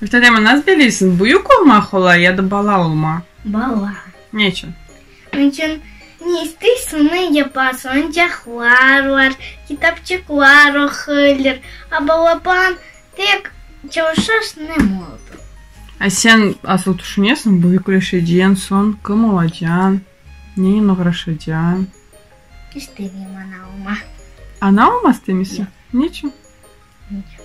Mühterema, nasıl bileysiñ, büyük olma qolay ya da bala olma? Bala. Neçün? Neçün, ne isteysiñ, onı yapasıñ, oyuncaqlar bar, kitapçıqlar oquylar, a balaban tek çalışarsıñ, ne moldu. A sen asıl tüşünesiñ, büyükleşecen soñ kim olacan, nenen oğraşacan? İstemeyim ana olma. Ana olma istemeysiñ? Neçün? Neçün.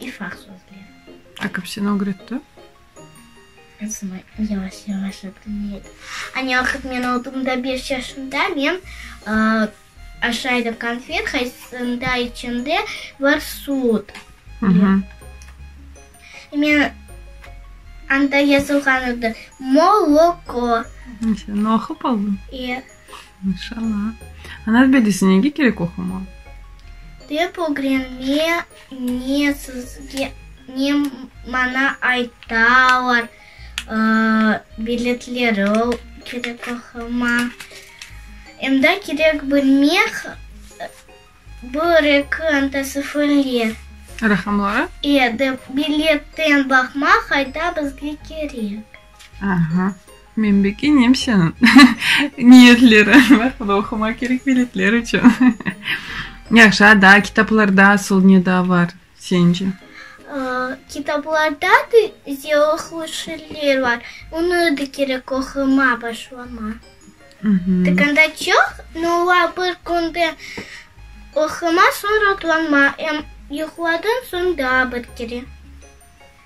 İffa sözleri. Akif seni ögretti. Esma yavaş yavaş ögrenedi. Anne vaqıt men oldım da beş yaşımda, men aşaydım konfet, haysında içinde bar sud. Men anda yazılğan edi, moloko. Sen oqup oldın? İyi. Maşallah. Ana bilesi nege kerek oqumaq? Dep ögrenme ne sizge ne mana aytalar, biletleri kerek oqumaq. Emda kerek bilmek bir-eki antasifrli. Raqamları? E, dep biletten baqmaq ayta bizge kerek. Aha. Men beki Nemseniñ niyetleri var, bu da oqumaq kerek biletler içün. Yahşı, a daa kitaplarda asıl ne daa var sence? Kitaplarda da yoqlu şiirler var, onı da kerek oqumaq başlamaq. Tıkında çoq, no ola bir künde oqumaq, soñ rotlanmaq, em yuqladan soñ daa bir kere.